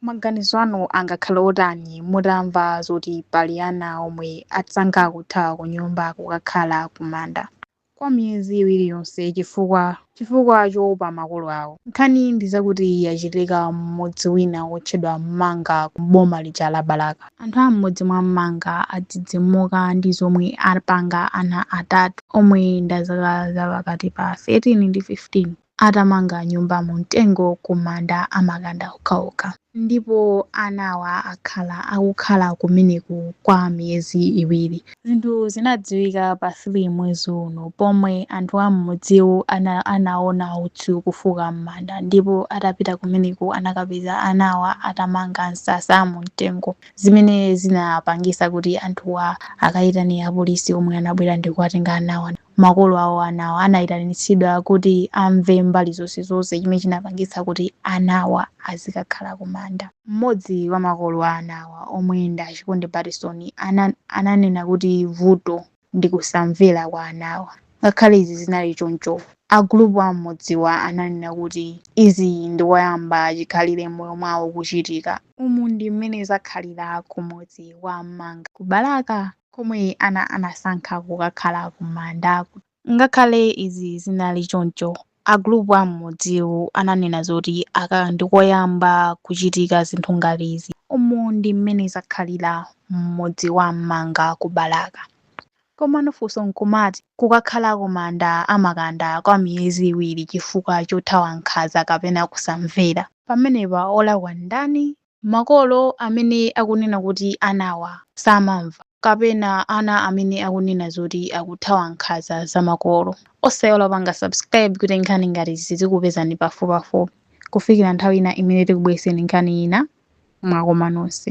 Maganizo anu angakhala otani mutamva zoti pali ana omwe atsankha kuthawa kunyumba kukakhala kumanda kwa miyezi iwiri yonse chifukwa choopa makolo awo? Nkhani ndi zakuti yachitika m'mudzi wina wotchedwa Mmanga ku boma lija la Balaka. Anthu a m'mudzi mwa Mmanga adzidzimuka ndi zomwe apanga ana atatu omwe ndi a zaka za pakati pa 13 ndi 15. atamanga nyumba mu mtengo ku manda amakanda okhaokha. Ndipo anawa akhala akukhala kumeneku kwa miyezi iwiri. Zinthu zinadziwika pa 3 mwezi uno pomwe anthu a m'mudziwu anaona utsi kufuka m'manda ndipo atapita kumeneko anakapeza anawa atamanga msasa mu mtengo zimene zinapangisa kuti anthuwa akayitane apolisi omwe anabwera ndikuwatenga anawa. makolo awo anawa anayitanitsidwa kuti amve mbali zonse zonse chimene chinapangitsa kuti anawa azikakhala kumanda. Mmodzi wa makolo a anawa omwe ndi a Chikondi Batison ananena kuti vuto ndi kusamvera kwa anawa. Ngakhale izi zinali choncho, agulupu a m'mudziwa ananena kuti izi ndi koyamba chikhalire m'moyo mwawo kuchitika. Umu ndi mmene zakhalira ku mudzi wa Mmanga ku Balaka. komwe ana anasankha kukakhala kumandaku. Ngakhale izi zinali choncho, a gulupu a m'mudziwu ananena zoti aka ndi koyamba kuchitika zinthu ngati izi. Umu ndi mmene zakhalira m'mudzi wa Mmanga ku Balaka. Komano funso n'kumati, kukakhala kumanda amakanda kwa miyezi iwiri chifukwa chothawa nkhanza kapena kusamvera? Pamenepa olakwa ndani? Makolo amene akunena kuti anawa samamva kapena ana amene akunena zoti akuthawa nkhaza za makolo. Osaiwala kupanga subscribe kuti nkhani ngati izi zizikupezani pafupipafupi. Kufikira nthawi ina imene tikubweretseni nkhani ina, mwakoma nonse.